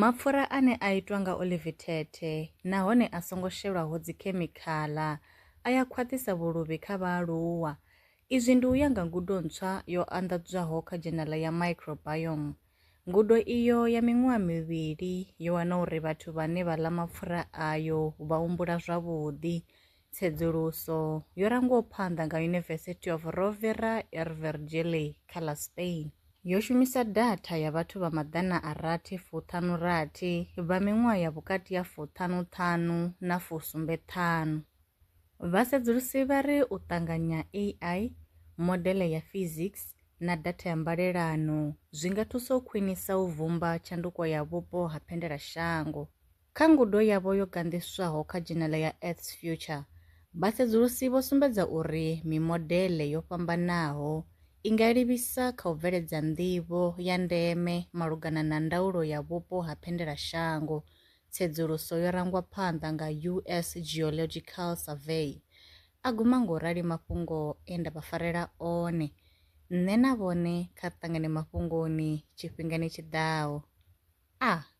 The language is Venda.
Mapfura ane a itwa nga olivi thethe nahone a songo shelwaho dzikhemikhala a ya khwaṱhisa vhuluvhi kha vhaaluwa. Izwi ndi u ya nga ngudo ntswa yo anḓadzwaho kha dzhenala ya Microbiome. Ngudo iyo ya miṅwaha mivhili yo wana uri vhathu vhane vha ḽa mapfura ayo vha humbula zwavhuḓi, Tsedzuluso yo rangwaho phanḓa nga University of Rovira e Virgili kha ḽa Spain yo shumisa datha ya vhathu vha maḓana a rathi fuṱhanu rathi vha miṅwaha ya vhukati ha fuṱhanu ṱhanu na fusumbe ṱhanu. Vhasedzulusi vha ri u ṱanganya AI, modele ya physics na datha ya mbalelano zwi nga thusa u khwinisa u vhumba tshanduko ya vhupo ha phendela shango. Kha ngudo yavho yo ganḓiswaho kha dzhenele ya Earth's Future, vhasedzulusi vho sumbedza uri mimodele yo fhambanaho i nga livhisa kha u bveledza nḓivho ya ndeme malugana na ndaulo ya vhupo ha phendelashango, tsedzuluso yo rangwa phanḓa nga US Geological Survey, a guma nga u rali mafhungo e nda vha farela one nṋe na vhone kha ri ṱangane mafhungoni tshifhingani tshi ḓaho. A.